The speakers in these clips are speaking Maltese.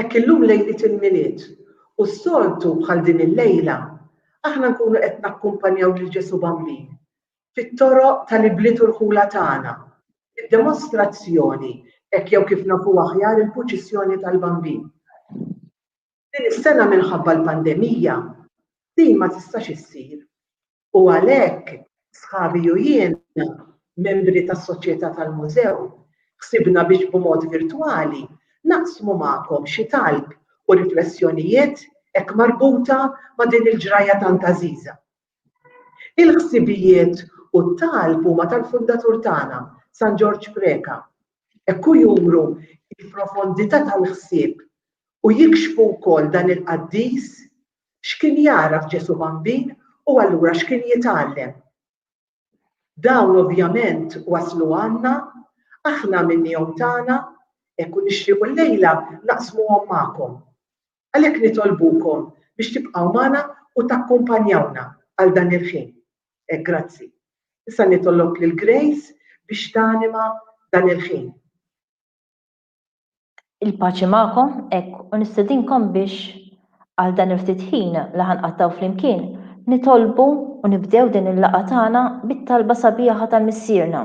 Hekk illum lejliet il-Milied, u s-soltu bħal din il-lejla, aħna nkunu qed nakkumpanjaw lil Ġesù Bambin fit-toroq tal-ibliet u rħula tagħna, bid-demostrazzjoni, hekk jew kif nafuha aħjar il-Puċissjoni tal-Bambin. Din is-sena minħabba l-pandemija, din ma tistax issir. u għalhekk sħabi u jien, membri tas-Soċjetà tal-Mużew, ħsibna biex b'mod virtwali naqsmu magħkom xi talb u riflessjonijiet hekk marbuta ma' din il-ġrajja tant għażiża. Il-ħsibijiet u t-talb huma tal-fundatur tagħna, San Ġorġ Preca. Hekk hu juru l-profondità tal-ħsieb u jikxfu wkoll dan il-qaddis X'kien jagħraf Ġesù Bambin u allura x'kien jitgħallem? Dawn ovvjament waslu għandna, aħna għamilniehom tagħna, hekk u nixtiequ llejla naqsmuhom magħkom. Għalhekk nitolbukom biex tibqgħu magħna u takkumpanjawna għal dan il-ħin. Hekk grazzi. Issa nitolob lil Grace biex tanima dan il-ħin. Il-paċi magħkom, hekk, u nistedinkom biex għal dan il-ftit ħin li ħanqattgħu flimkien, nitolbu u nibdew din il-laqgħa tagħna bit-talba sabiħa tal-Missierna.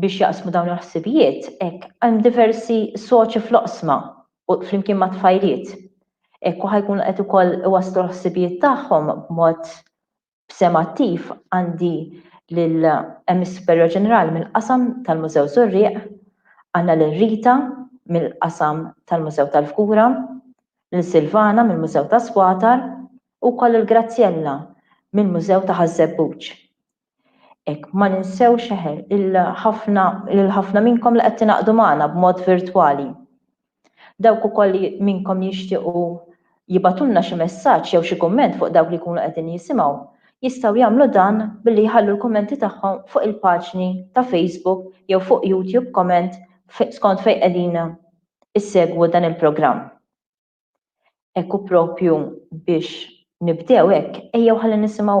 biex jaqsmu dawn il-ħsibijiet hekk hemm diversi soċi fl-oqsma u flimkien mat-tfajliet. Hekk u ħa jkunu qed ukoll iwasslu l-ħsibijiet tagħhom b'mod b'sehem attiv għandi lil hemm is-Superjor Ġenerali mill-qasam tal-Mużew Żurrieq, għandna lil Rita mill-qasam tal-Mużew tal-Fgura, lil Silvana mill-Mużew ta' Squatar u wkoll lil Graziella mill-Mużew ta' Ħaż-Żebbuġ. Hekk ma ninsewx eħe il-ħafna lil ħafna minnkom li qed tingħaqdu magħna b'mod virtwali. Dawk ukoll li minnkom li jixtiequ jibgħatulna xi messaġġ jew xi kumment fuq dawk li jkunu qegħdin jisimgħu jistgħu jagħmlu dan billi jħallu l-kummenti tagħhom fuq il-paġni ta' Facebook jew fuq YouTube comment skont fejn qegħdin issegwu dan il-programm. Hekk u proprju biex nibdew hekk ejjew ħalli nisimgħu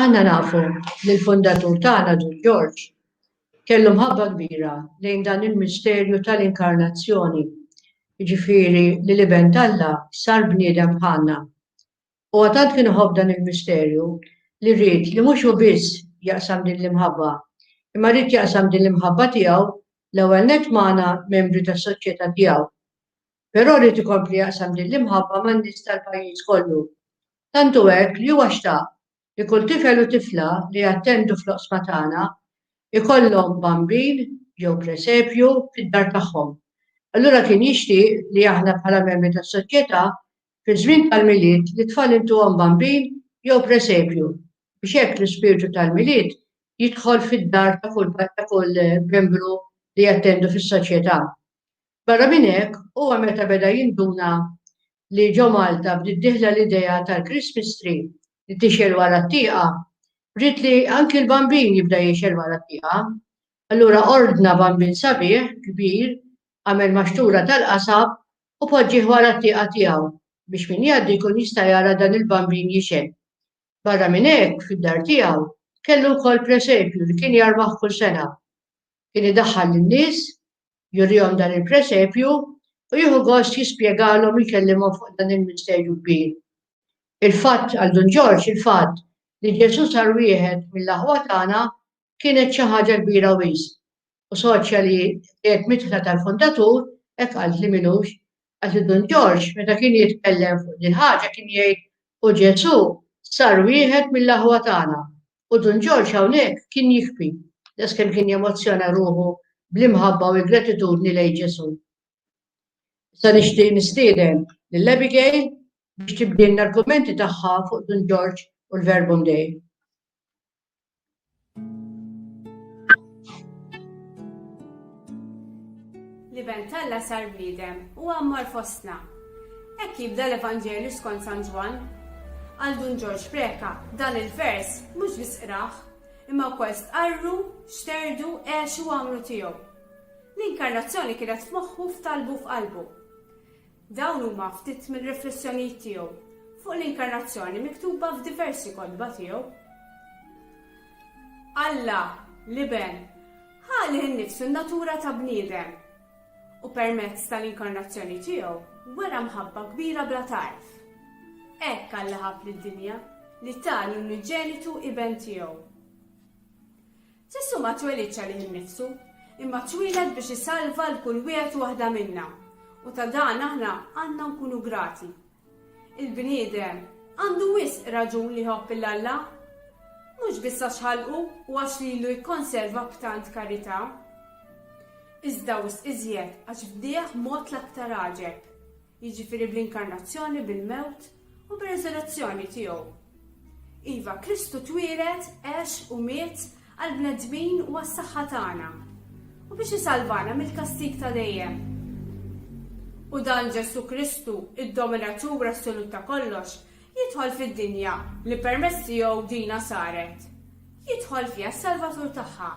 Aħna nafu li l-fundatur tagħna Ġun Ġorġ kellu mħabba kbira lejn dan il-misterju tal-inkarnazzjoni, jiġifieri li l-Iben t'Alla sar bniedem bħalna. Huwa tant kien iħobb dan il-misterju li ried li mhux hu biss jaqsam din l-imħabba, imma ried jaqsam din l-imħabba tiegħu l-ewwel nett magħna membri tas-soċjetà tiegħu. Però ried ikompli jaqsam din l-imħabba man-nies tal-pajjiż kollu. Tant hu hekk li huwa xtaq li kull tifel u tifla li jattendu fl-oqsma tagħna jkollhom Bambin jew Presepju fid-dar tagħhom. Allura kien jixtieq li aħna bħala membri tas-Soċjetà fiż-żmien tal-Milied lit-tfal intuhom Bambin jew Presepju biex hekk l-ispirtu tal-Milied jidħol fid-dar ta' kull membru li jattendu fis-Soċjetà. Barra minn hekk, huwa meta beda jinduna li ġo Malta bdiet dieħla l-idea tal-Christmas Tree li tixgħel wara t-tieqa, ried li anki l-Bambin jibda jixgħel wara t-tieqa. Allura ordna Bambin sabiħ, kbir, għamel maxtura tal-qasab u poġġieh wara t-tieqa tiegħu biex min jgħaddi jkun jista' jara dan il-Bambin jixgħel. Barra minn hekk, fid-dar tiegħu, kellu wkoll presepju li kien jarbaħ kull sena. Kien idaħħal lin-nies jurihom dan il-presepju u jieħu gost jispjegalhom u jkellimhom fuq dan il-misterju kbir. Il-fatt għal Dun Ġorġ il-fatt li Ġesù sar wieħed mill-aħwa tagħna kienet xi ħaġa kbira wisq u soċja li qed mitħla tal-fundatur hekk qal li minux Għażiż Dun Ġorġ meta kien jitkellem fuq dil-ħaġa kien jgħid u Ġesù sar wieħed mill-aħwa tagħna u Dun Ġorġ hawnhekk kien jixbi daqs kemm kien jemozzjona ruħu bl-imħabba u l-gratitudni lejn Ġesù. Issa nixtieq nistieden lil Abigail biex tibdilna l-kummenti tagħha fuq Dun Ġorġ u l-Verbum Dei. L-Iben talla sar bniedem u għammar fostna. Hekk jibda l-Evanġelju skont San Ġwann. Għal Dun Ġorġ Preka dan il-vers mhux biss qrah, imma wkoll stqarru, xterdu, għexu għamlu tiegħu. L-inkarnazzjoni kienet f'moħħu f'talbu f'qalbu. Dawn huma ftit mir-riflessjonijiet tiegħu fuq l-Inkarnazzjoni miktuba f'diversi kotba tiegħu. Alla, l-Iben, ħa lih innifsu n-natura ta' bniedem u permezz tal-Inkarnazzjoni tiegħu wera mħabba kbira bla tarf. Hekk Alla ħabb lid-dinja li ta l-uniġenitu Iben tiegħu. Ġesù ma twelidx għalih innifsu, imma twieled biex isalva 'l kull wieħed u waħda minna, u ta' dan aħna għandna nkunu grati. Il-bniedem għandu wisq raġun li jħobb 'l Alla, mhux biss għax ħalqu u għax lilu jikkonserva b'tant karità, iżda wisq iżjed għax bnieh mod l-aktar għaġeb, jiġifieri bl-inkarnazzjoni, bil-mewt u bir-resurrezzjoni tiegħu. Iva, Kristu twieled, għex u miet għall-bnedmin u għas-saħħa tagħna u biex isalvana mill-kastig ta' dejjem. U dan Ġesù Kristu, id-dominatur assolut ta' kollox, jidħol fid-dinja li permezz tiegħu dina saret. Jidħol fiha s-salvatur tagħha,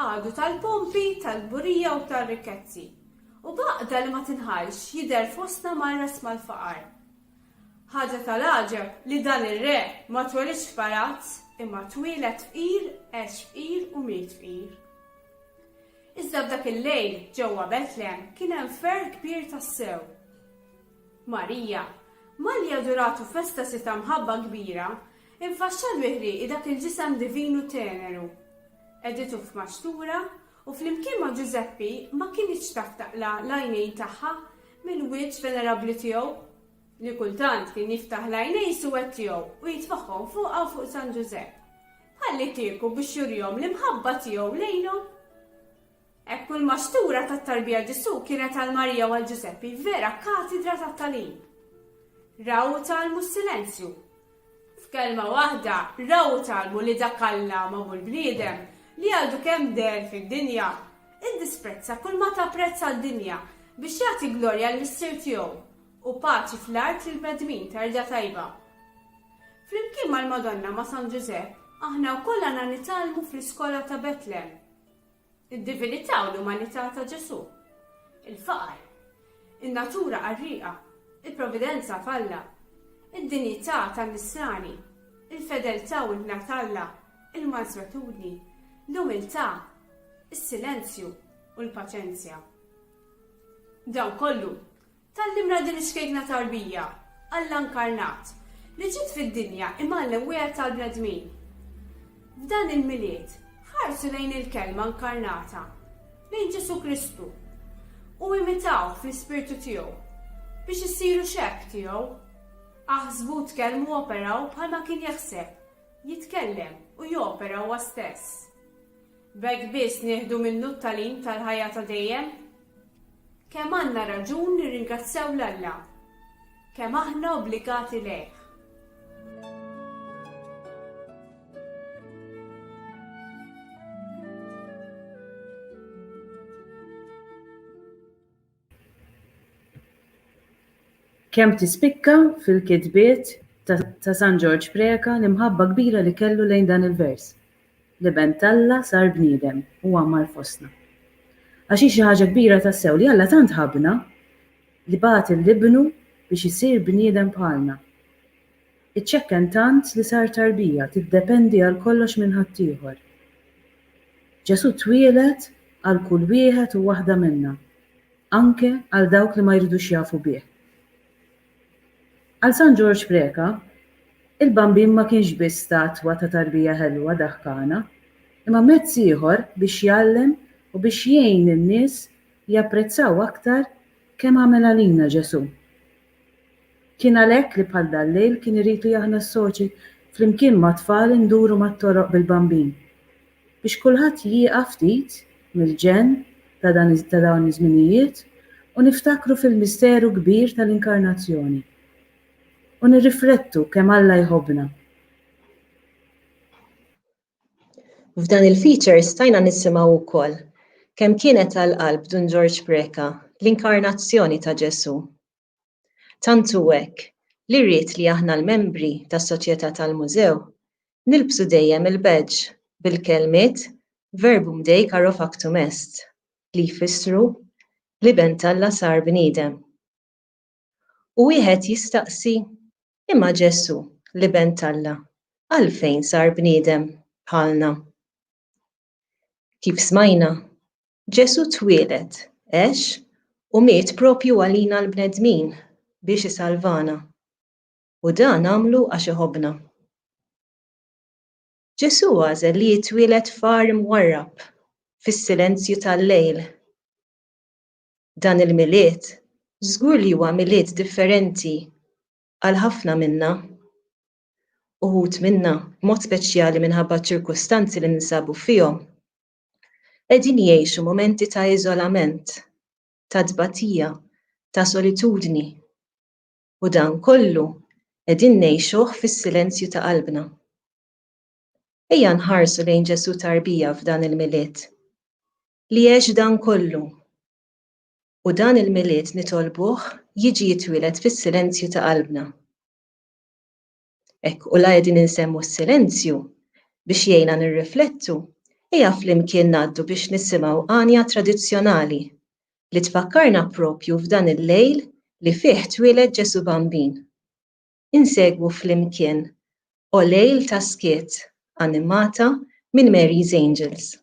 għadu tal-pompi, tal-burija u tal-rikkezzi, U b'għaqda li ma tinħallx jidher fostna marras mal-faqar. Ħaġa tal-għaġeb li dan ir-re ma twelidx f'palazz imma twieled fqir, għex fqir u miet fqir. Iżda f'dak il-lejl ġewwa Betlehem kien hemm ferħ kbir tassew. Marija, malli aduratu festa si ta' mħabba kbira, infaxxal bi ħrieqi dak il-ġisem divinu teneru. Qegħditu f'maxtura U flimkien ma' Ġużeppi ma kinitx taf taqla' l-għajnejn tagħha mill-wiċċ venerabbli tiegħu, li kultant kien jiftaħ l-għajnejn suwed tiegħu u jitfagħhom fuqha u fuq San Ġużepp, bħallikieku biex jurihom l-imħabba tiegħu lejnhom. Hekk kull maxtura tat-tarbija Ġesù kienet għal Marija u għal Ġużeppi vera katidra tat-tagħlim. Raw u tgħallmu s-silenzju. F'kelma waħda, raw u tgħallmu li dak Alla ma hu l-bniedem, li għadu kemm deher fid-dinja, iddisprezza kull ma ta prezz għad-dinja biex jagħti glorja l-Missier tiegħu u paċi fl-art lill-bnedmin ta' rida tajba. Flimkien mal-Madonna ma' San Ġużepp, aħna wkoll għandna nitgħallmu fl-iskola ta' Betlem. Id-divinità u l-umanità ta' Ġesù, il-faqar, in-natura qarrieqa, il-providenza f'Alla, id-dinjità tan-Nisrani, il-fedeltà u l-hna t'Alla, il-manswetudni, l-umiltà, is-silenzju u l-paċenzja. Dan kollu Tgħallimna din ix-xkejkna tarbija, Alla nkarnat, li ġiet fid-dinja imgħallem wieħed tal-bnedmin. F'dan il-Milied, ħarsu lejn il-Kelma nkarnata, lejn Ġesù Kristu, u imitawh fl-ispirtu tiegħu, biex issiru xebh tiegħu. Aħsbu, tkellmu u operaw bħalma kien jaħseb, jitkellem u jopera huwa stess. B'hekk biss nieħdu minnu t-tagħlim tal-ħajja ta' dejjem? Kemm għandna raġun nirringrazzjaw 'l Alla! Kemm aħna obbligati lejh! Kemm tispikka fil-kitbiet ta' San Ġorġ Preca l-imħabba kbira li kellu lejn dan il-vers, L-Iben t'Alla sar bniedem u għammar fostna. Għax hi xi ħaġa kbira tassew li Alla tant ħabbna li bagħat 'l Ibnu biex isir bniedem bħalna. Iċċekken tant li sar tarbija tiddependi għal kollox minn ħaddieħor. Ġesù twieled għal kull wieħed u waħda minna, anke għal dawk li ma jridux jafu bih. Għal San Ġorġ Preca, il-Bambin ma kienx biss statwa ta' tarbija ħelwa daħkana, imma mezz ieħor biex jgħallem u biex jgħin lin-nies japprezzaw aktar kemm għamel għalina Ġesù. Kien għalhekk li bħal dal-lejl kien irid li aħna s-soċi flimkien mat-tfal induru mat-toroq bil-Bambin biex kulħadd jieqaf ftit mill-ġenn ta' dan ta' dawn iż-żminijiet u niftakru fil-misteru kbir tal-Inkarnazzjoni u nirriflettu kemm Alla jħobbna. F'dan il-feature stajna nisimgħu wkoll kemm kienet għall-qalb Dun Ġorġ Preca l-inkarnazzjoni ta' Ġesù. Tant hu hekk li ried li aħna l-membri tas-Soċjetà tal-Mużew nilbsu dejjem il-badge bil-kelmiet Verbum Dei Caro Factum Est li jfissru L-Iben t'Alla Sar Bniedem. U wieħed jistaqsi, Imma Ġesù, l-Iben t'Alla, għalfejn sar bniedem bħalna? Kif smajna, Ġesù twieled, għex u miet proprju għalina l-bnedmin biex isalvana, u dan għamlu għax iħobbna. Ġesù għażel li jitwieled f'għar imwarrab, fis-silenzju tal-lejl. dan il-Milied żgur li huwa Milied differenti għal ħafna minna. Uħud minna, b'mod speċjali minħabba ċ-ċirkustanzi li ninsabu fihom, qegħdin jgħixu mumenti ta' iżolament, ta' tbatija, ta' solitudni, u dan kollu qegħdin ngħixuh fis-silenzju ta' qalbna. Ejja nħarsu lejn Ġesù Tarbija f'dan il-Milied. li għex dan kollu. U dan il-Milied nitolbuh jiġi jitwieled fis-silenzju ta' qalbna. Hekk u la qegħdin insemmu s-silenzju biex jgħinna nirriflettu, ejja flimkien ngħaddu biex nisimgħu għanja tradizzjonali li tfakkarna propju f'dan il-lejl li fih twieled Ġesù Bambin. insegwu flimkien O Lejl ta' Skiet animata minn Mary's Angels.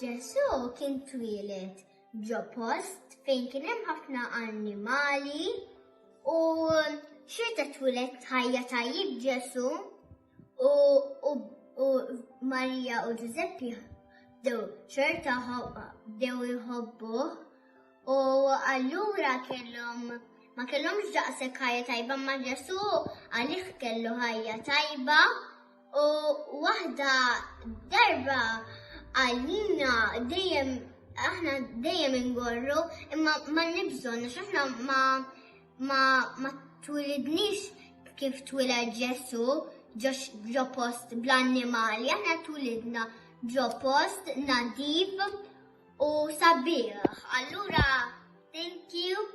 Ġesu kien twieled ġo post fejn kien hemm ħafna annimali u xorta twieled ħajja tajjeb Ġesu. U u Marija u Ġużeppi dew xorta dew jħobbuh u allura kellhom ma kellhomx daqshekk ħajja tajba ma Ġesu għalih kellu ħajja tajba u waħda darba għalina dejjem aħna dejjem ingorru imma ma nibżgħu għax aħna ma Ma ma twilidniex kif twiled Ġesu ġo post bl-annimali, aħna twilidna ġo post nadif u sabiħ. Allura, thank you.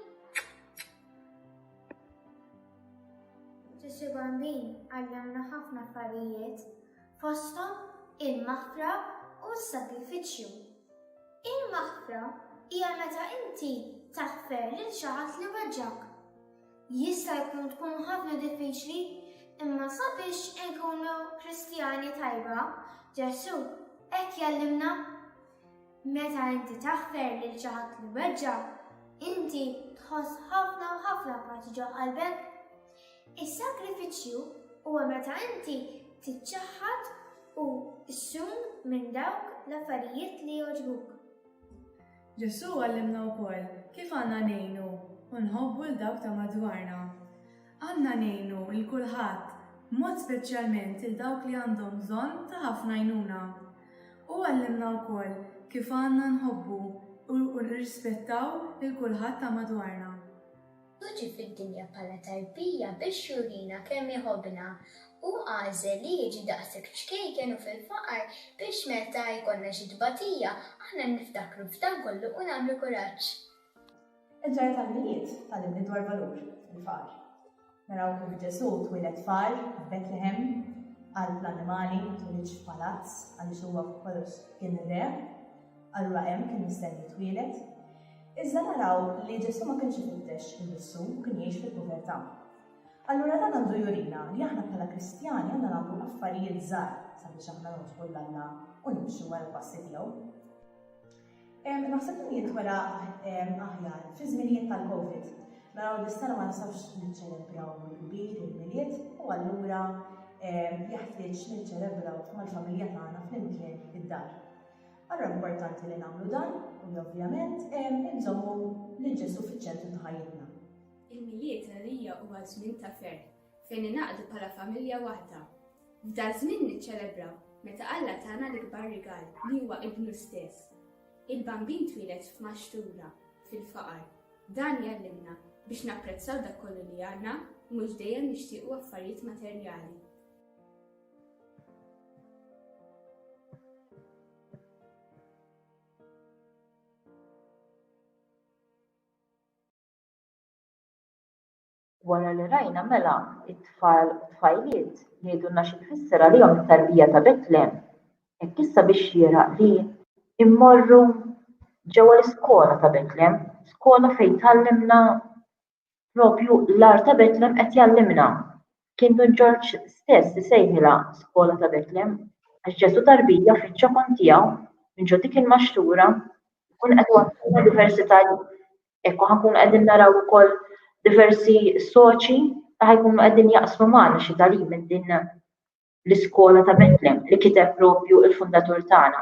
Ġesu Bambin għallamna ħafna affarijiet fosthom il-maħfra u s-sagrifiċċju. Il-maħfra hija meta inti taħfer lil xi ħadd li weġġgħek. Jista' jkun tkun ħafna diffiċli, imma sabiex inkunu Kristjani tajba, Ġesù hekk jgħallimna. Meta inti taħfer lil xi ħadd li weġġgħek, inti tħoss ħafna u ħafna paċi ġo qalbek. Is-sagrifiċċju huwa meta inti tiċċaħħad u ssum minn dawk l-affarijiet li jogħġbuk. Ġesù għallimna wkoll kif għandna ngħinu u nħobbu lil dawk ta' madwarna. Għandna ngħinu lil kulħadd, b'mod speċjalment lil dawk li għandhom bżonn ta' ħafna għajnuna. Hu għallimna wkoll kif għandna nħobbu u nirrispettaw lil kulħadd ta' madwarna. Hu ġie fid-dinja bħala tarbija biex jurina kemm iħobbna. Hu għażel li jiġi daqshekk ċkejken u fil-faqar biex meta jkollna xi tbatija, aħna niftakru f'dan kollu u nagħmlu kuraġġ. Il-ġrajja tal-Milied tgħallimni dwar valur il-faqar. Naraw kif Ġesù twieled faqar f'Betlehem, qalb l-annimali, ma twilidx f'palazz għaliex huwa fuq kollox kien ir-Re. Allura hemm kien mistenni jitwieled. Iżda naraw li Ġesù ma kienx ifittex innifsu, kien jgħix fil-povertà. Allura dan għandu jurina li aħna bħala Kristjani għandna nagħmlu affarijiet żgħar sabiex aħna nogħġbu lil Alla u nimxu wara l-passi tiegħu. Naħseb dan jintwera aħjar fi żminijiet tal-Covid. Naraw li s-sena ma nistgħux niċċelebraw mill-kbir il-milied u allura jeħtieġ niċċelebraw mal-familja tagħna flimkien id-dar. Allura importanti li nagħmlu dan u li ovvjament inżommu lil Ġesù fiċ-ċentru ta' ħajjitna. Il-Milied għalija huwa żmien ta' ferħ fejn ningħaqdu bħala familja waħda. F'dan żmien niċċelebra meta Alla tana l-ikbar rigal li huwa ibnu stess. Il-Bambin twieled f'maxtura, fil-faqar. Dan jgħallimna biex napprezzaw dak kollu li għandna u mhux dejjem nixtiequ affarijiet materjali. Wara li rajna mela t-tfal u t-tfajliet jgħidulna xi tfisser għalihom it-tarbija ta' Betlehem, hekk issa biex xieraq li mmorru ġewwa l-iskola ta' Betlehem, skola fejn tgħallimna Propju l-agħar ta' Betlem qed jgħallimna. Kien Dun Ġorġ stess isejħilha skola ta' Betlem għax Ġesù tarbija fiċ-ċokon tiegħu minn ġo dik il-maxtura jkun qed iwassalna diversità hekk u ħankunu qegħdin naraw ukoll diversi soċi li ħajkunu qegħdin jaqsmu magħna xi tagħlim minn din l-iskola ta' Betlem li kiteb propju il-fundatur tagħna.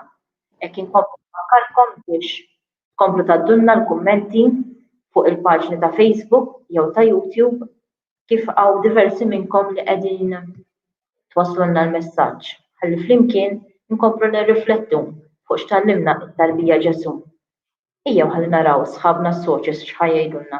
Hekk inkomplu nfakkarkom biex tkomplu tgħaddulna l-kummenti fuq il-paġni ta' Facebook jew ta' YouTube kif hawn diversi minnkom li qegħdin twasslulna l-messaġġ ħalli flimkien inkomplu nirriflettu fuq x'tallimna t-tarbija Ġesù. Ejjew ħalli naraw sħabna s-soċis x'ħa jgħidulna.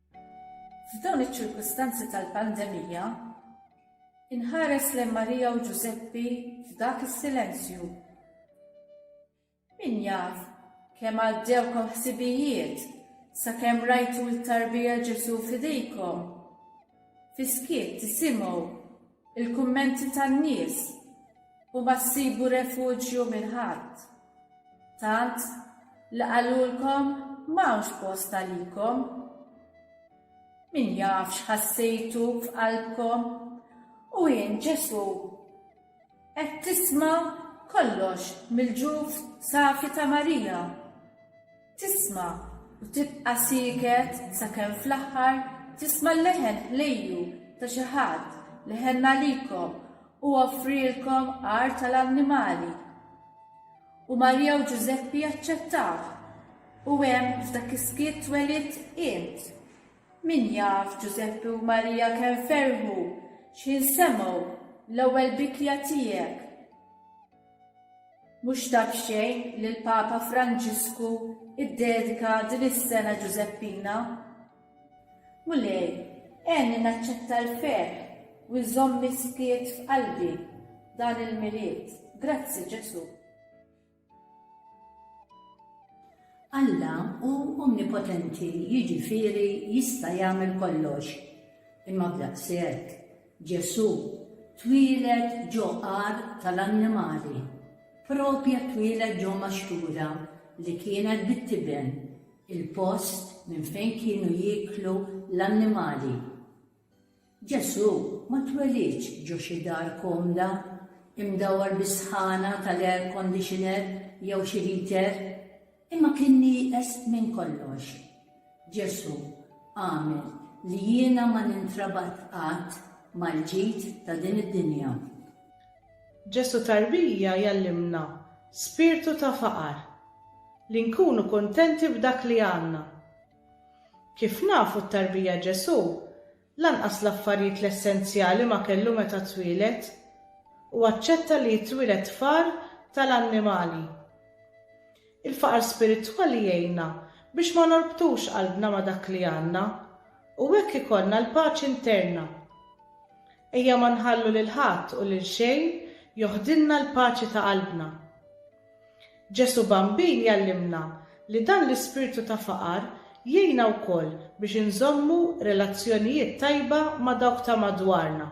F'dawn iċ-ċirkustanzi tal-pandemija, inħares lejn Marija u Ġużeppi f'dak is-silenzju. Min jaf kemm għaddewkom ħsibijiet sakemm rajtu t-tarbija Ġesù f'idejkom? Fis-skiet tisimgħu Il-kummenti tan-nies u ma ssibu refuġju minn ħadd. Tant li qalulkom m'hawnx post għalikom. Min jaf x'ħassejtu f'qalbkom u int Ġesù qed tisma' kollox mill-ġuf safi ta' Marija. Tisma' u tibqa' sieket sakemm fl-aħħar tisma' l-leħen ħlejju ta' xi ħadd li ħenn għalikom u offrielkom għar tal-annimali. U Marija u Ġużeppi aċċettaw. U hemm f'dak is-skiet twelidt int. Min jaf Ġużeppi u Marija kemm ferħu x'ħin semgħu l-ewwel bikja tiegħek. Mhux ta' b'xejn li l-Papa Franġisku ddedika din is-sena Ġużeppina, Mulej, għenni naċċetta l-ferħ u nżomm miskiet f'qalbi dan il-Milied. Grazzi, Ġesù. Alla hu omnipotenti, jiġifieri jista' jagħmel kollox. Imma b'daqshekk, Ġesù twieled ġo għar tal-annimali, propja twieled ġo maxtura li kienet bit-tiben, il-post minn fejn kienu jieklu l-annimali. Ġesù ma twelidx ġo xi dar komda, imdawwar bis-sħana tal-air conditioner jew xi heater. Imma kien nieqes minn kollox. Ġesù għamel li jiena ma nintrabat qatt mal-ġid ta' din id-dinja. Ġesù Tarbija jgħallimna spirtu ta' faqar, li nkunu kuntenti b'dak li għandna. Kif nafu t-tarbija Ġesù Lanqas l-affarijiet l-essenzjali ma kellu meta twieled, u aċċetta li jitwieled far tal-annimali. Il-faqar spiritwali jgħinna biex ma norbtux qalbna ma' dak li għandna, u hekk ikollna l-paċi nterna. Ejja ma nħallu lil ħadd u lil xejn joħdilna l-paċi ta' qalbna. Ġesù Bambin jgħallimna li dan l-ispirtu ta' faqar jgħinna wkoll biex inżommu relazzjonijiet tajba ma' dawk ta' madwarna.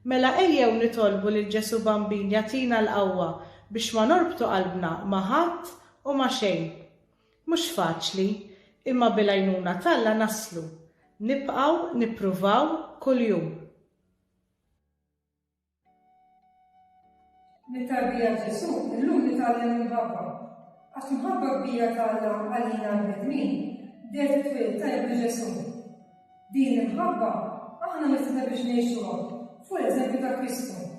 Mela ejjew nitolbu lil Ġesù Bambin jagħtina l-qawwa biex ma norbtu qalbna ma' ħadd u ma' xejn. Mhux faċli, imma bil-għajnuna t'Alla naslu. Nibqgħu nippruvaw kuljum. Mit-tarbija Ġesù illum nitgħallem imħabba. Għax imħabba kbira ta' Alla għalina l-bnedmin bdiet it-twelid ta' ibnu Ġesù. Din l-imħabba aħna mistiedna biex ngħixuha fuq l-eżempju ta' Kristu.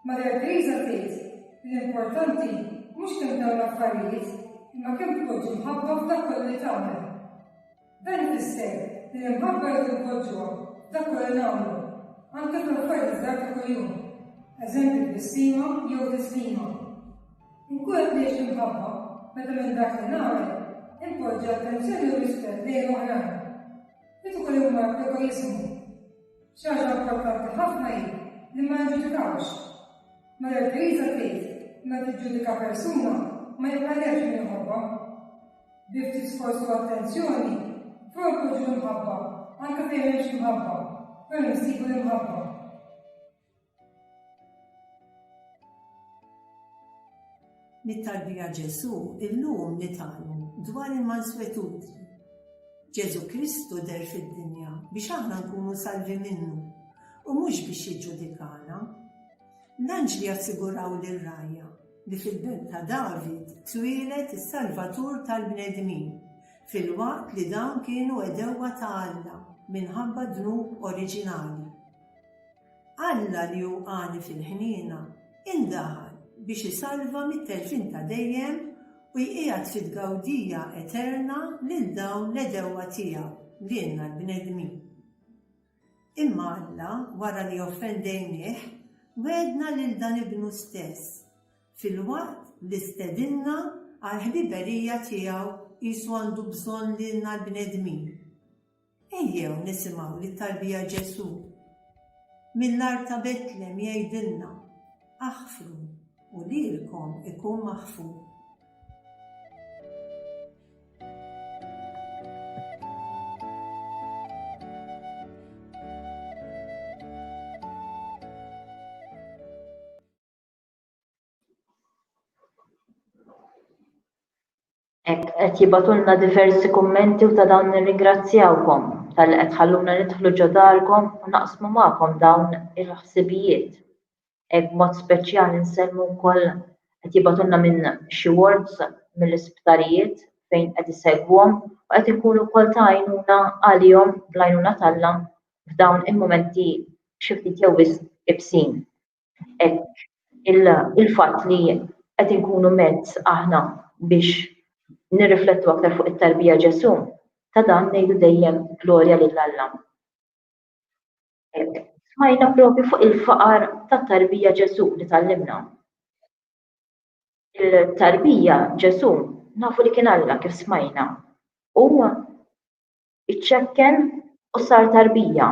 Marja Teresa tgħid l-importanti mhux kemm dawn l-affarijiet imma kemm tpoġġi mħabba f'dak kollu li tagħmel. Dan ifisser li l-imħabba jrid inpoġġuha f'dak kollu li nagħmlu, anke fl-affarijiet iż-żgħar ta' kuljum, eżempju tbissima jew tislima. Inkun qed ngħix l-imħabba meta minn dak li nagħmel inpoġġi attenzjoni u rispett lejn oħrajn. Meta ukoll imur egoiżmu. Xi ħaġa importanti ħafna hi li ma niġġudikawx. Mela l-Knisja tgħid meta tiġġudika persuna ma jibqalekx min iħobbha. bi ftit sforz u attenzjoni, tprovduġu l-imħabba, anke fejn m'hemmx imħabba, fejn insibu l-imħabba. Mit-tarbija Ġesu, illum nitgħallmu dwar il-manswetudni. Ġesu Kristu der fid-dinja biex aħna nkunu salvi minnu u mhux biex jiġġudikana. L-anġli assiguraw lir-rajja li fil-belt ta' David twieled is-Salvatur tal-bnedmin, filwaqt li dawn kienu għedewwa ta' Alla minħabba d-dnub oriġinali. Alla li hu għani fil-ħniena indaħal biex isalva mit-telfien ta' dejjem u jqiegħed fi tgawdija eterna lil dawn l-għedewwa tiegħu, lilna l-bnedmin. Imma Alla, wara li offendejnieh, wegħedna lil dan Ibnu stess, filwaqt li stedinna għall-ħbiberija tiegħu qisu għandu bżonn lilna l-bnedmin. Ejjew nisimgħu li tarbija Ġesù mill-art ta' Betlem jgħidilna, Aħfru u lilkom ikun maħfur. qed jibatulna diversi kummenti u ta' dawn nirringrazzjawkom tal qed tħalluna nidħlu ġo darkom u naqsmu magħkom dawn il-ħsibijiet. b'mod speċjali nsemmu wkoll qed jibgħatulna minn xi wards mill-isptarijiet fejn qed isegwhom u qed ikun ukoll ta' għajnuna għalihom bl-għajnuna t'Alla f'dawn il-mumenti xi ftit jew wisq ibsin. Hekk il-fatt li qed inkunu mezz aħna biex nirriflettu aktar fuq it-tarbija Ġesù, ta' dan ngħidu dejjem glorja lil Alla. Smajna provi fuq il-faqar tat-tarbija Ġesu li tallimna. Il-tarbija Ġesu nafu li kien Alla kif smajna. U iċċekken u sar tarbija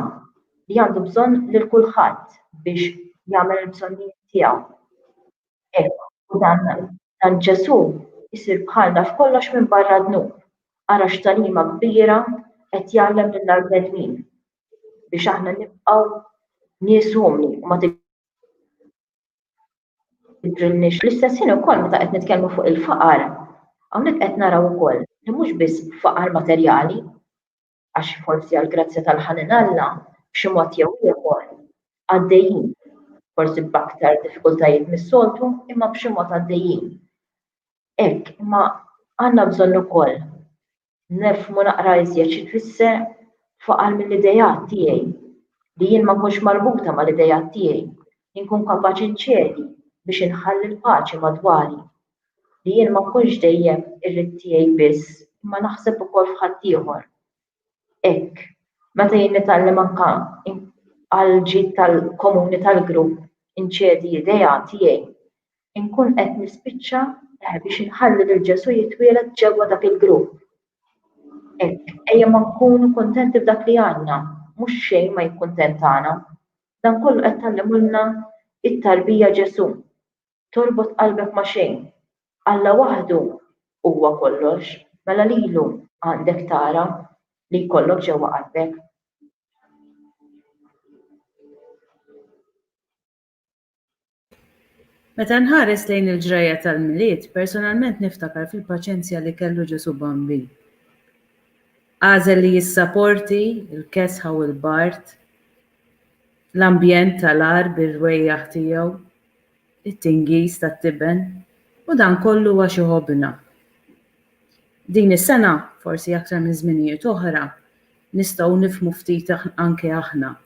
li għandu bżonn lil kulħadd biex jagħmel il-bżonnijiet tiegħu. Ejwa, u dan dan Ġesù jsir bħalna f'kollox minbarra d-dnub. Ara x'tagħlima kbira qed jgħallem lill-arbnedmin, biex aħna nibqgħu nies umli u ma tidhrilniex. Fl-istess ħin ukoll meta qed nitkellmu fuq il-faqar, hawnhekk qed naraw ukoll li mhux biss faqar materjali, għax forsi għall-grazzja tal-ħanin Alla, b'xi mod jew ieħor, għaddejjin, forsi b'aktar diffikultajiet mis-soltu, imma b'xi mod għaddejjin. Hekk, imma għandna bżonn ukoll nifhmu naqra iżjed xi tfisser faqal mill-idejat tiegħi, li jien ma nkunx marbuta mal-idejat tiegħi, inkun kapaċi nċedi biex inħalli l-paċi madwari li jien ma nkunx dejjem irrid tiegħi biss imma naħseb ukoll f'ħaddieħor. Hekk, meta jien nitgħallem anke għall-ġid tal-komuni tal-grupp inċedi idea tiegħi, inkun qed nispiċċa biex inħalli lil Ġesù jitwieled ġewwa dak il-grupp. Hekk, ejja ma nkunu kuntenti b'dak li għandna, mhux xejn ma jikkuntentana. Dan kollu qed tgħallimulna t-tarbija Ġesù. torbot qalbek ma' xejn. Alla waħdu huwa kollox, mela lilu għandek tara li jkollok ġewwa qalbek. Meta nħares lejn il-ġrajja tal-Milied, personalment niftakar fil-paċenzja li kellu Ġesù Bambin. Għażel li jissaporti l-kesħa u l-bard, l-ambjent tal-agħar bir-rwejjaħ tiegħu, it-tingiż tat-tiben u dan kollu għax iħobbna. Din is-sena, forsi aktar minn żminijiet oħra, nistgħu nifhmu ftit anke aħna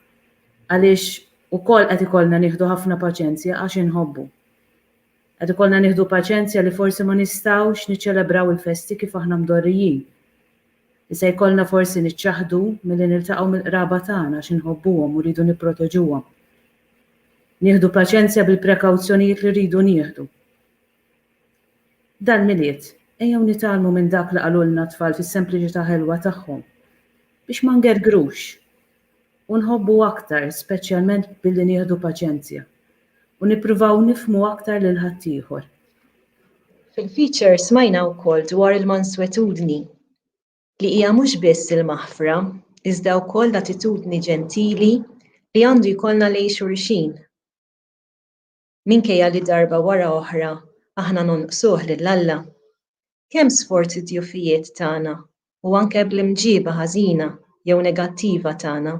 għaliex ukoll qed ikollna nieħdu ħafna paċenzja għax inħobbu. Qed ikollna nieħdu paċenzja li forsi ma nistgħux niċċelebraw il-festi kif aħna mdorrijin. Se jkollna forsi niċċaħħdu milli niltaqgħu mill-qraba tagħna għax inħobbuhom u rridu nipproteġuhom. Nieħdu paċenzja bil-prekawzjonijiet li rridu nieħdu. Dal-Milied, ejjew nitgħallmu minn dak li qalulna t-tfal fis-sempliċità ħelwa tagħhom, biex ma ngergrux, u nħobbu aktar speċjalment billi nieħdu paċenzja u nippruvaw nifhmu aktar lil ħaddieħor. Fil-feature smajna wkoll dwar il-manswetudni, li hija mhux biss il-maħfra iżda wkoll l-attitudni ġentili li għandu jkollna lejn xulxin. minkejja li darba wara oħra aħna nonqsuh lil Alla? Kemm sforzi d-djufijiet tagħna u anke bl-imġieba ħażina jew negattiva tagħna?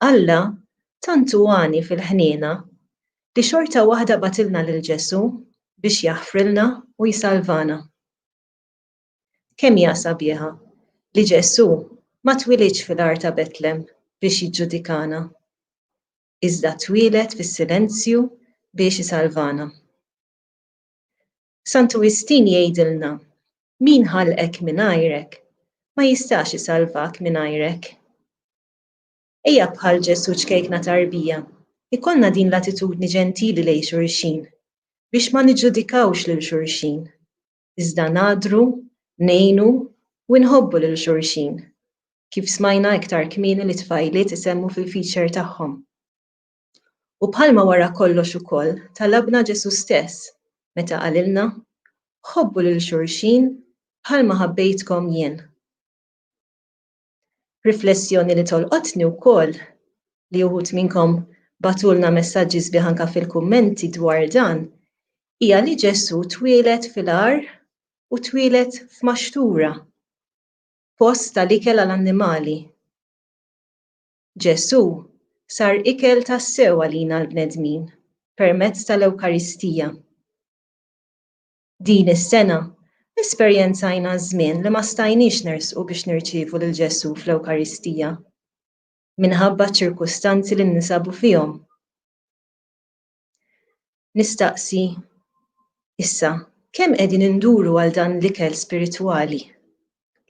Alla tant hu għani fil-ħniena li xorta waħda bagħtilna lil Ġesù biex jaħfrilna u jsalvana. Kemm hija sabiħa li Ġesù ma twilidx fil-għar ta' Betlem biex jiġġudikana. iżda twieled fis-silenzju biex isalvana. Santu Wistin jgħidilna, Min ħalqek mingħajrek, ma jistax isalvak mingħajrek. Ejja bħal Ġesù ċkejkna tarbija, ikollna din l-attitudni ġentili lejn xulxin, biex ma niġġudikawx lil xulxin, iżda ngħaddru, ngħinu u nħobbu lil xulxin, kif smajna iktar kmieni li t-tfajliet isemmu fil-feature tagħhom. U bħalma wara kollox ukoll talabna Ġesù stess meta qalilna, Ħobbu lil xulxin bħalma ħabbejtkom jien. Riflessjoni li tolqotni wkoll li uħud minnkom bagħtulna messaġġi sbieħ anke fil-kummenti dwar dan hija li Ġesù twieled fil-għar u twieled f'maxtura, post tal-ikel għal annimali. Ġesù sar ikel tassew għalina l-bnedmin permezz tal-Ewkaristija. Din is-sena, esperjenzajna żmien li ma stajniex nersqu biex nirċievu lil Ġesù fl-Ewkaristija, minħabba ċ-ċirkustanzi li ninsabu fihom. Nistaqsi issa, kemm qegħdin induru għal dan l-ikel spiritwali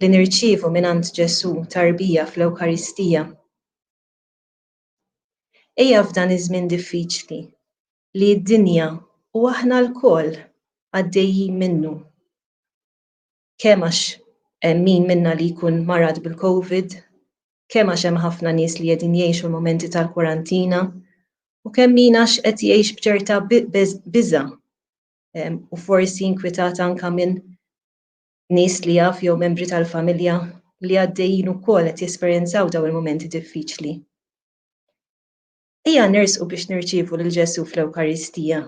li nirċievu mingħand Ġesù tarbija fl-Ewkaristija? Ejja f'dan iż-żmien diffiċli li d-dinja u aħna lkoll għaddejjin minnu, kemm għax hemm min minna li jkun marad bil-Covid, kemm għax hemm ħafna nies li qegħdin jgħixu l-mumenti tal-kwarantina, u kemm min għax qed jgħix b'ċerta biża' u forsi inkwitat anke minn nies li jaf jew membri tal-familja li għaddejjin ukoll qed jesperjenzaw dawn il-mumenti diffiċli. Ejja nersqu biex nirċievu lil Ġesù fl-Ewkaristija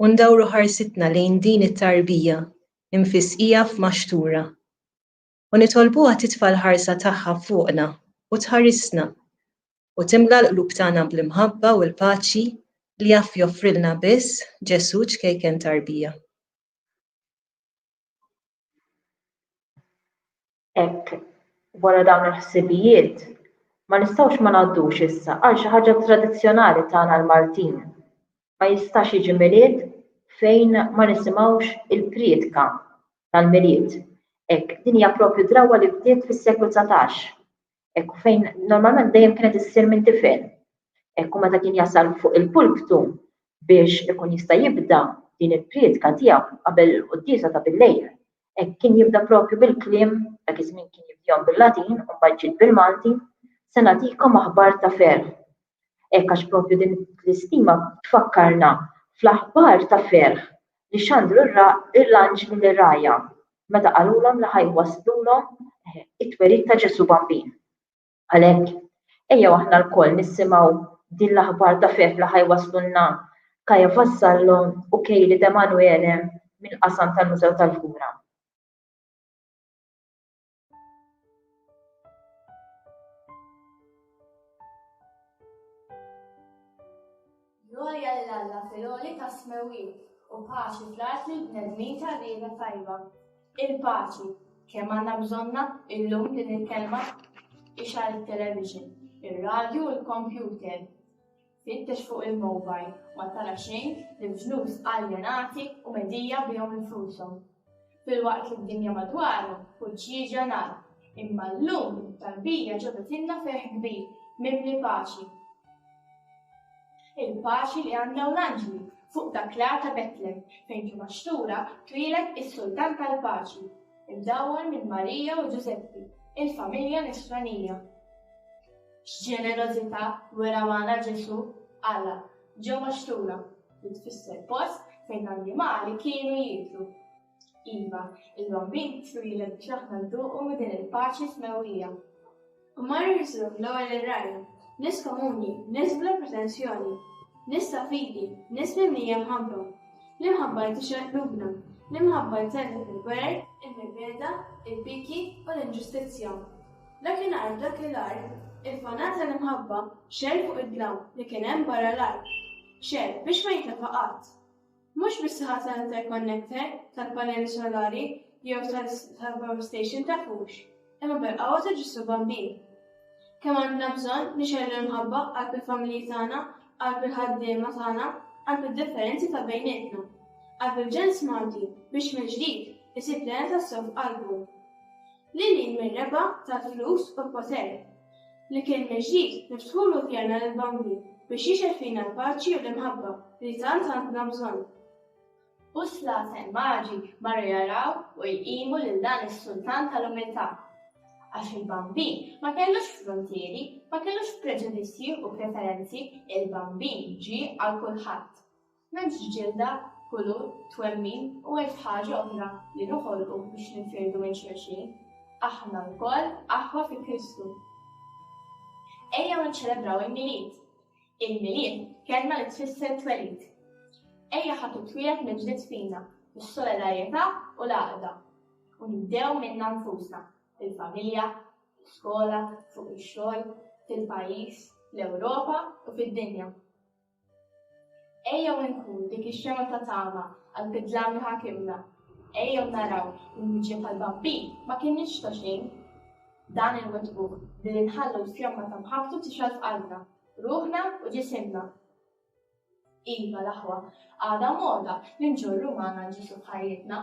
u ndawru ħarsitna lejn din it-tarbija mfissqija f'maxtura u nitolbuha titfa' l-ħarsa tagħha fuqna u tħarisna u timla l-qlub tagħna bl-imħabba u l-paċi li jaf joffrilna biss Ġesù ċkejken tarbija. Hekk, wara dawn il-ħsibijiet, ma nistgħux ma ngħaddux issa għal xi ħaġa tradizzjonali tagħna l-Maltin. Ma jistax jiġi Milied fejn ma nisimgħux il-prietka tal-Milied. Hekk, din hija proprju drawwa li bdiet fis-seklu dsatax. Ekku fejn normalment dejjem kienet issir minn tifel. Ekku meta kien jasal fuq il-pulptu biex ikun jista' jibda din il-prietka tiegħu qabel il-quddiesa ta' bil-lejl. Hekk kien jibda propju bil-kliem dak iż-żmien kien jibdihom bil-Latin u mbagħad ġiet bil-Malti, se nagħtikom aħbar ta' ferħ. Hekk għax propju din l-istima tfakkarna fl-aħbar ta' ferħ li xandru l-anġli lir-rgħajja meta qalulhom li ħa jwasslulhom it-twelid ta' Ġesù Bambin. Għalhekk, ejjew aħna lkoll nisimgħu din l-aħbar ta' ferħ li ħa jwasslulna Kaja Vassallo u Kejli Demanuele mill-qasam tal-Mużew tal-Lhura. Glorja lil Alla fil-għoli ta' smewin u paċi fl-art li bnedmin ta' rieda tajba. Il-paċi kemm għandna bżonna illum din il-kelma ixar il-television, ir-radju u l-kompjuter. Fittex fuq il-mowbajl, ma tara xejn li l-ġnus aljenati u medija bihom infushom. Filwaqt li d-dinja madwaru kull xieġra nar, imma llum it-tarbija ġabitilna ferħ kbir mimli paċi. Il-paċi li għandna u l-anġli fuq dak l-għar ta' Betlem fejn ġie maxtura twieled is-Sultan tal-Paċi, imdawwar minn Marija u Ġużeppi, il-familja Nisranija. X'ġenerożità wera magħna Ġesù? Alla, ġo paxtura, li tfisser post fejn l-annimali kienu jieklu. Iva, il-Bambin twieled biex aħna nduqu minn din il-paċi smewwija. U mar jiżżur l-ewwel ir-rgħajja, nies komuni, nies bla pretensjoni, nies ta' fidi, nies mimlija mħabba. L-imħabba li tixraq qlubna, l-imħabba li tellef il-gwerer, il-mibegħda, il-biki u l-inġustizzja. Dakinhar f'dakilhar, il-fanar tal-imħabba xegħel fuq id-dlam li kien hemm barra l-art. Xegħel biex ma jintefa' qatt. Mhux bis-saħħa tal-interconnector, tal-panelli solari jew tal-power station ta' fux, imma bil-qawwa ta' Ġesù Bambin. Kemm għandna bżonn nixgħelu l-imħabba qalb il-familji tagħna, qalb il-ħaddiema tagħna, qalb id-differenzi ta' bejnietna, qalb il-ġens Malti biex mill-ġdid isib l-għena tas-sew f'qalbu. Lil hinn mir-rebgħa tal-flus u l-poter, li kien mill-ġdid niftħulu djarna lill-bambin biex jixgħel fina l-paċi u l-imħabba li tant għandna bżonn. Busla ta' immaġi marru jaraw u jqimu lil dan is-sultan tal-umiltà. Għax il-bambin ma kellux fruntieri, ma kellux preġudizzji u preferenzi, il-bambin ġie għal kulħadd. M'hemmx ġilda, kulur, twemmin u elf ħaġa oħra li noħolqu biex ninfirdu minn xulxin. Aħna lkoll aħwa fi Kristu. Ejjew niċċelebraw il-Milied! Il-Milied, kelma li tfisser twelid. Ejja ħa titwieled mill-ġdid fina, bis-solidarjetà u l-għaqda. U nibdew minna nfusna, fil-familja, fl-iskola, fuq ix-xogħol, fil-pajjiż, fl-Ewropa u fid-dinja. Ejjew inkunu dik ix-xemgħa ta' tama għall-bidla li ħa kimna. Ejjew naraw li l-miġja tal-Bambin ma kinitx ta' xejn. Dan inwettquh billi nħallu l-fjomma ta' mħabbtu tixgħel f'qalbna, ruħna u ġisimna. Iva, l-aħwa, għadha moda li nġorru magħna Ġesù f'ħajjitna.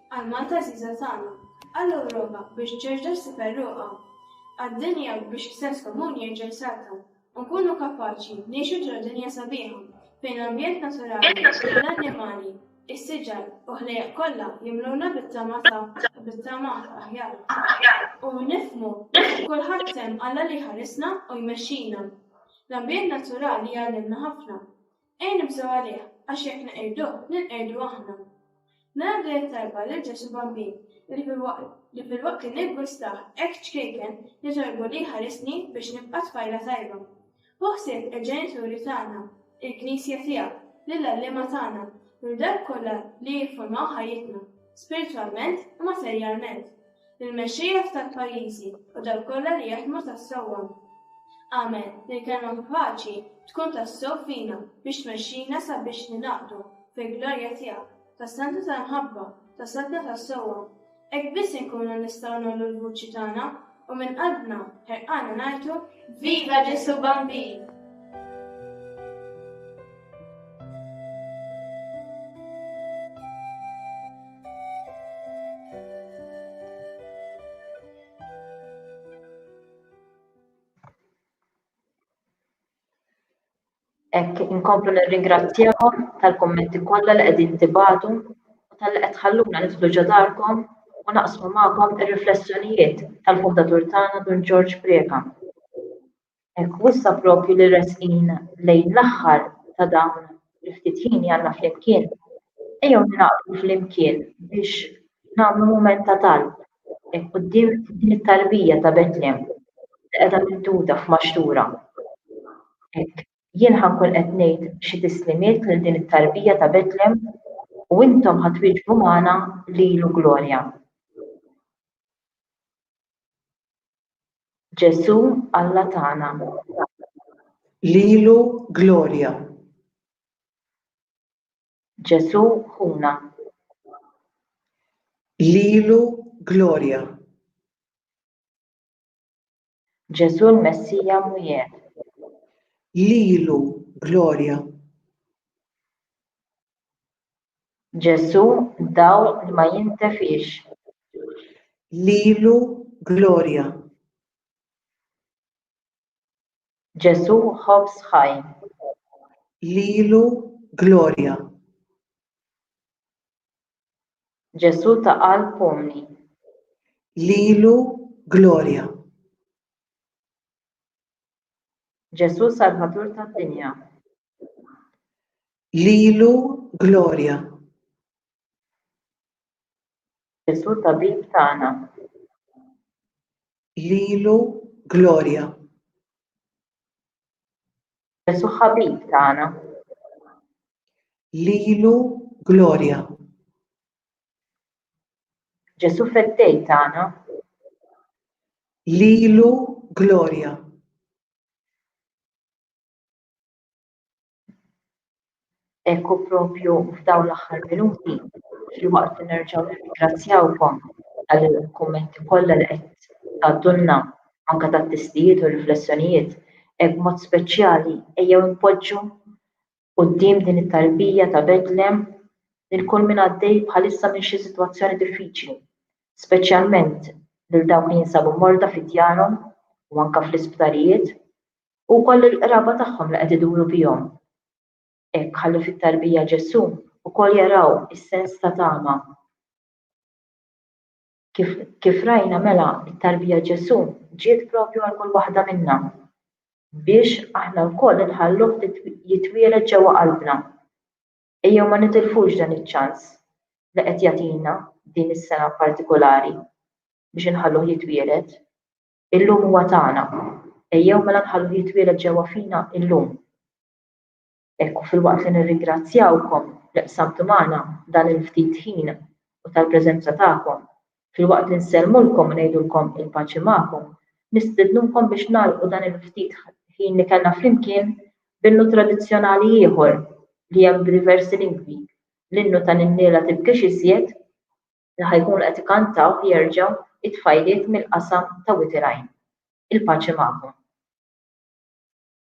Għal Malta għażiża tagħna. Għal Ewropa biex terġa' ssib għeruqha. Għad-dinja biex is-sens komun jerġa' jsalta u nkunu kapaċi ngħixu ġo dinja sabiħa fejn l-ambjent naturali, l-annimali, is-siġar u ħlejjaq kollha jimluna bit-tama ta' bit-tama aħjar. U nifhmu li kulħadd hemm Alla li jħarisna u jmexxina. L-ambjent naturali jgħallimna ħafna. Ejja nibżgħu għalih, għax jekk neqirduh, ninqerdu aħna. Naraw li hija tajba lil Ġesù Bambin li filwaqt li niggwistah hekk ċkejken nitolbu li jħarisni biex nibqa' tfajla tajba. Ħu ħsieb il-ġenituri tagħna, il-Knisja tiegħek, lill-għalliema tagħna, lil dawk kollha li jiffurmaw ħajjitna, spiritwalment u materjalment. Il-mexxejja f'tal pajjiżi u dal kollha li jaħdmu tas-sewwa. Amen li l-kelma paċi tkun tas-sew fina biex tmexxina sabiex ningħaqdu fil-glorja tiegħek tas-santa tal-mħabba, tas-saltna tas-sewwa. Hekk biss inkunu nistgħu nollu l-vuċi tagħna u minn qalbna ħerqana ngħidu Viva Ġesu Bambin! Hekk inkomplu nirringrazzjakom tal-kummenti kollha li qegħdin tibatu u tal-li qed tħalluna nidħlu ġo darkom u naqsmu magħkom ir-riflessjonijiet tal-fundatur tagħna Dun Ġorġ Prieka. Hekk, u issa proprju li resqin lejn l-aħħar ta' dawn il-ftit ħin li għandna flimkien, ejjew ningħaqdu flimkien biex nagħmlu mument ta' talb hekk quddiem din it-tarbija ta' Betlem li qiegħda mimduda f'maxtura. Hekk, jien ħa nkun qed ngħid xi tislimiet lil din it-tarbija ta' Betlem u intom ħa twieġbu magħna lilu glorja. Ġesù Alla tagħna. Lilu glorja. Ġesù Ħuna. Lilu glorja. Ġesù l-Messija Mwiegħed. Lilu glorja. Ġesù dawl li ma jintefiex. Lilu glorja. Ġesù ħobż ħaj. Lilu glorja. Ġesù ta' qalb umli. Lilu glorja. Ġesù Salvatur tad-dinja. Lilu glorja. Ġesù Tabib tagħna. Lilu glorja. Ġesù Ħabib tagħna. Lilu glorja. Ġesu' Feddej tagħna. Lilu glorja. Hekk u propju f'dawn l-aħħar minuti, filwaqt li nerġgħu nirringrazzjawkom għall-kummenti kollha li qed tgħaddulna anke tat-testijiet u r-riflessjonijiet, hekk b'mod speċjali ejjew inpoġġu Quddiem din it-tarbija ta' Betlem, il-kull min għaddej bħalissa minn xi sitwazzjoni diffiċli, speċjalment lil dawk li jinsabu morda fi djarhom u anke fl-isptarijiet, u wkoll lill-qraba tagħhom li qed iduru bihom. Hekk ħalli fit-tarbija Ġesù wkoll jaraw is-sens ta' tama. Kif, kif rajna mela t-tarbija Ġesù ġiet propju għal kull waħda minna biex aħna wkoll inħalluh jitwieled ġewwa qalbna. Ejjew ma nitilfux dan iċ-ċans li qed jagħtina din is-sena partikulari biex inħalluh jitwieled. Illum huwa tagħna. Ejjew mela nħalluh jitwieled ġewwa fina illum. Hekk u filwaqt li nirringrazzjawkom li qsamtu magħna dan il-ftit ħin u tal-preżenza tagħkom, filwaqt li nsellmulkom u ngħidulkom il-paċi magħkom, nistednukom biex nagħlqu dan il-ftit ħin li kellna flimkien b'innu tradizzjonali ieħor li hemm b'diversi lingwi, l-innu tal-inniela tibkix iżjed li ħa jkunu qed ikantawh jerġa' t-tfajliet mill-qasam ta' Wied ir-Rajn. Il-paċi magħkom.